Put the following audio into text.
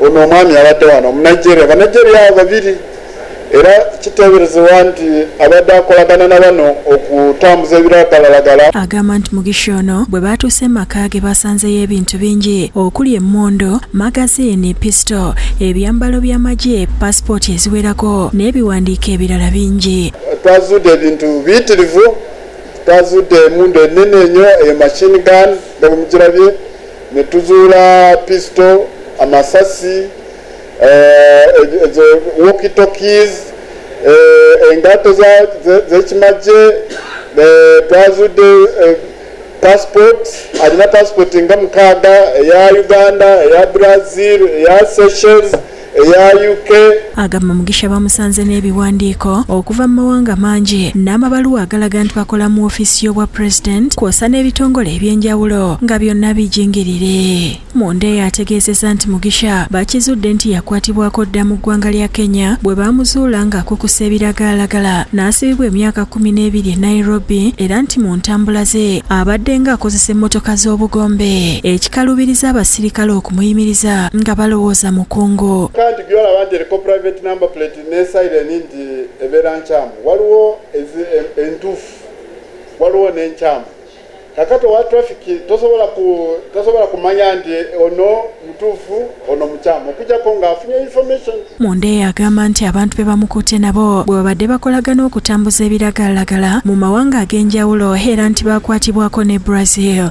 ono omwami abadde wano omunigeria banigeria abo babiri era kiteeberezebwa nti abadde akolagana na bano okutambuza ebiragalalagala agamba nti mugisha ono bwe baatuuse maka ge basanzeyo ebintu bingi okuli emmundu magazini pisito ebyambalo by'amagye pasipooti eziwerako n'ebiwandiiko ebirala bingi twazudde ebintu biyitirivu twazudde emundu enene enyo eyo machine gun nga bwemugirabye ne tuzuula pisito, amasasi, eh, ezo walkie-talkies, eh, engatto z'ekimagye, eh, twazudde passport alina passport nga mukaaga eya uganda eya brazil eya seychelles eya UK agamba Mugisha bamusanze n'ebiwandiiko okuva mu mawanga mangi n'amabaluwa agalaga nti bakola mu ofiisi y'obwa president kwosa n'ebitongole eby'enjawulo nga byonna bijingirire munda eyo ategeezeza nti Mugisha bakizudde nti yakwatibwako dda mu ggwanga lya Kenya bwe baamuzuula ng'akukusa ebiragaalagala n'asibibwa emyaka kumi n'ebiri e Nairobi era nti mu ntambula ze abadde nga akozesa emmotoka z'obugombe ekikalubiriza abasirikale okumuyimiriza nga balowooza mukungu kandi gyolaba nti eriko private number plate ne sireni nti ebeera nkyamu waliwo entuufu waliwo n'enkyamu kakati owa traffic tosobola kumanya nti ono mutuufu ono mukyamu okujako nga afunye information mundeeya agamba nti abantu be bamukutte nabo bwe babadde bakolagana okutambuza ebiragalalagala mu mawanga ag'enjawulo era nti baakwatibwako ne brazil